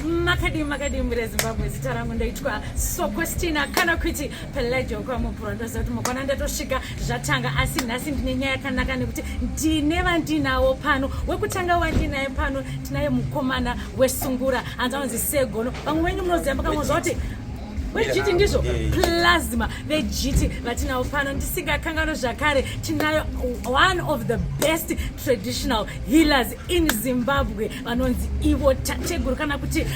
makadii makadii mhuri yezimbabwe zita rangu ndoitwa sokostina kana kuti pelajo kwamupuro ndoziva kuti mukwana ndatosvika zvatanga asi nhasi ndine nyaya yakanaka nekuti ndine vandinawo pano wekutanga wandinaye pano tinaye mukomana wesungura hanzi anonzi segono vamwe venyu munoziva makangonzva kuti vejiti ndizvo plasma vejiti vatinawo pano ndisingakanganwe zvakare tinayo one of the best traditional healers in zimbabwe vanonzi ivo tateguru kana kuti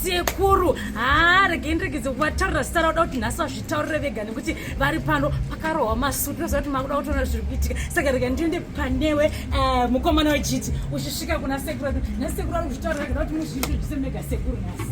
sekuru haa regei ndiregedze kuvataurira zita rauda kuti nhasi vazvitaurire vega nekuti vari pano pakarohwa masutu noziva kuti makuda kutoona zviri kuitika saka rega ndiende panewe eh, mukomana wejiti uchisvika kuna sekuru nhasi sekuru ari kuzvitaurira vega kuti muzviitozvise mega sekuru nhasi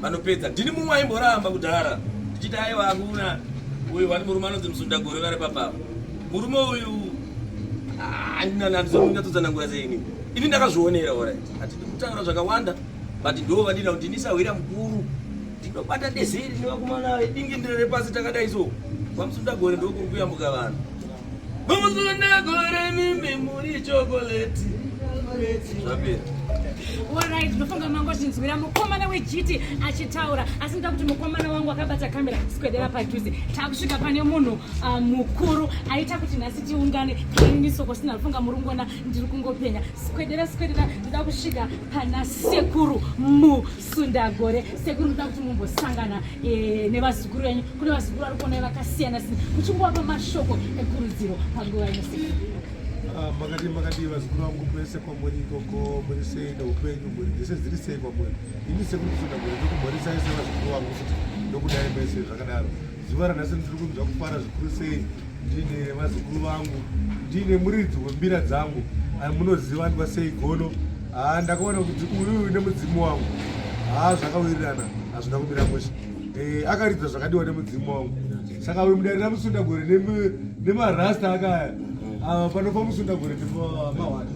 vanopedza ndini mumwe aimboramba kudhara ndichiti aiwa akuna uyu wani murume anonzi musunda gore vari papapa murume uyu handina ah, nandizomunyatsodzanangura seini ini ndakazvionera orit hatidi kutaura zvakawanda but ndo vadina kuti ndisahwira mukuru tinobata dezeri nevakumana dingi ndire repasi takadai so kwamusunda gore ndokuri kuyambuka vanhu Alright, ndofunga mango zvinzwira mukomana wejiti achitaura asi nda kuti mukomana wangu akabata kamera sikwedera padhuze takusvika pane munhu ah, mukuru aita kuti nhasi tiungane kaini soko sina ndofunga muri kungona ndiri kungopenya sikwedera sikwedera ndida kusvika pana sekuru mu Sundagore sekuru muda kuti mumbosangana eh, nevazukuru venyu kune vazukuru vari kuonai vakasiyana siyana muchingowapa mashoko ekurudziro panguva ino sekuru ah, makadii makadii vazukuru vangu kwese kwamuri ikoko muri sei neupenyu mhuri dzese dziri sei kwamuri ini sekuru sundagore ndokumhorisai sevazukuru vangu futi ndokudai mese zvakadaro Zuva ranhasi ndiri kunzwa kufara zvikuru sei ndiine vazukuru vangu ndiine muridzi wembira dzangu ah, munoziva andwa sei gono ah, ndakaona kuti uyu nemudzimu wangu haa ah, zvakawirirana hazvina kumira musha eh, akaridza zvakadiwa nemudzimu wangu saka uyu mudari ramusundagore nemarasta akaya ava panofa musundagore nemahwani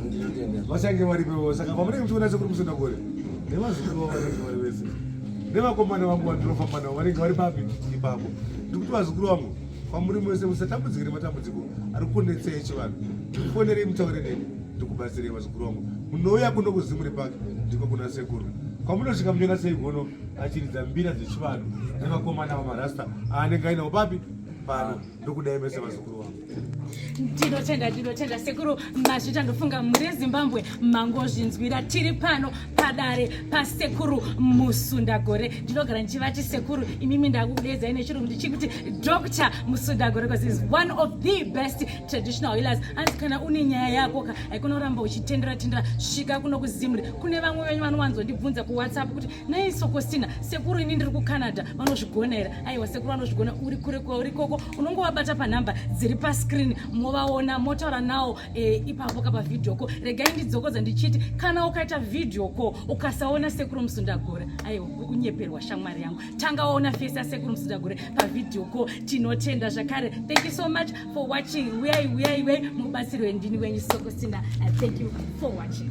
vachange varipewo saka pamunenge muchiona sekuri musundagore nevazukuru vavo vanenge vari vese nevakomana vangu vandinofamba navo vanenge vari papi ipapo ndikuti vazukuru vangu kwamuri mose musatambudzike nematambudziko ari kunetsa echivanhu ndikufonerei mutaure neni ndikubatsirei vazukuru vangu munouya kuno kuzimuri pake ndiko kuna sekuru kwamunosvika munyona sei gono achiridza mbira dzechivanhu nevakomana vamarasta aanenge ainawo papi pano ndokudai mese vazukuru vangu ndinotenda ndinotenda sekuru mazvita ndofunga muri ezimbabwe mangozvinzwira tiri pano padare pasekuru musundagore ndinogara ndichivati sekuru imimi ndakudedzai nechirungu ndichikuti dr musundagore bcause is one of the best traditional healers hanzi kana une nyaya yako ka haikunoramba uchitendera tendera svika kuno kuzimri kune vamwe venyu vanowanzondibvunza kuwhatsapp kuti Nei Sokostina, sekuru ini ndiri kuCanada, vanozvigona here? Aiwa sekuru vanozvigona, uri kure kwauri koko, unongovabata panhamba dziri pascreen, movaona, motaura nawo e, ipapo ka pavideo ko. Regai ndidzokodza ndichiti kana ukaita video ko ukasaona sekuru Musundagore, aiwa uri kunyeperwa shamwari yangu. Tanga waona face ya sekuru Musundagore pavideo ko. Tinotenda zvakare. Thank you so much for watching. Uyai uyai uyai mubatsirwe ndini wenyu Sokostina. Uh, thank you for watching.